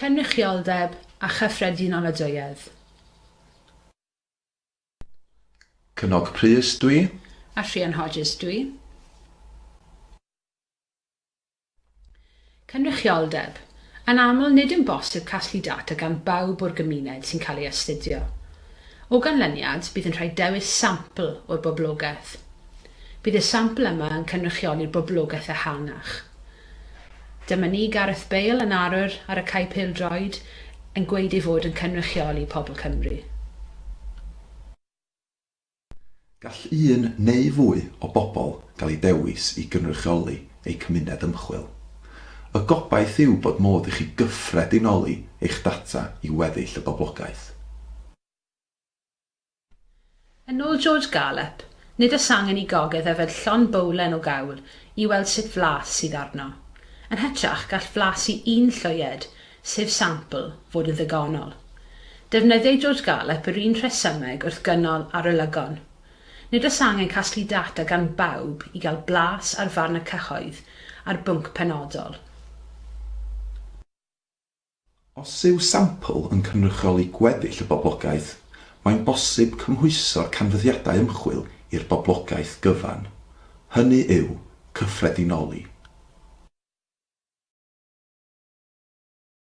Cynrychioldeb a chyffredinoladwyedd. Cynog Prys dw i. A Rhian Hodges dw i. Cynrychioldeb, Yn aml nid yn bosib casglu data gan bawb o'r gymuned sy'n cael ei astudio. O ganlyniad, bydd yn rhaid dewis sampl o'r boblogaeth. Bydd y sampl yma yn cynrychioli'r boblogaeth ehangach. Dyma ni, Gareth Bale yn arwr ar y cae pêl-droed, yn gweud ei fod yn cynrychioli pobl Cymru. Gall un neu fwy o bobl gael eu dewis i gynrychioli eu cymuned ymchwil. Y gobaith yw bod modd i chi gyffredinoli eich data i weddill y boblogaeth. Yn ôl George Garlep, nid oes angen i gogydd yfed llond bowlen o gawl i weld sut flas sydd arno. Yn hytrach, gall flas i un llwyed, sef sampl, fod yn ddigonol. Defnyddiai George Garlep yr un rhesymeg wrth gynnal arolygon. Nid oes angen casglu data gan bawb i gael blas ar farn y cyhoedd ar bwnc penodol. Os yw sampl yn cynrychioli gweddill y boblogaeth, mae'n bosib cymhwyso'r canfyddiadau ymchwil i'r boblogaeth gyfan, hynny yw, cyffredinoli.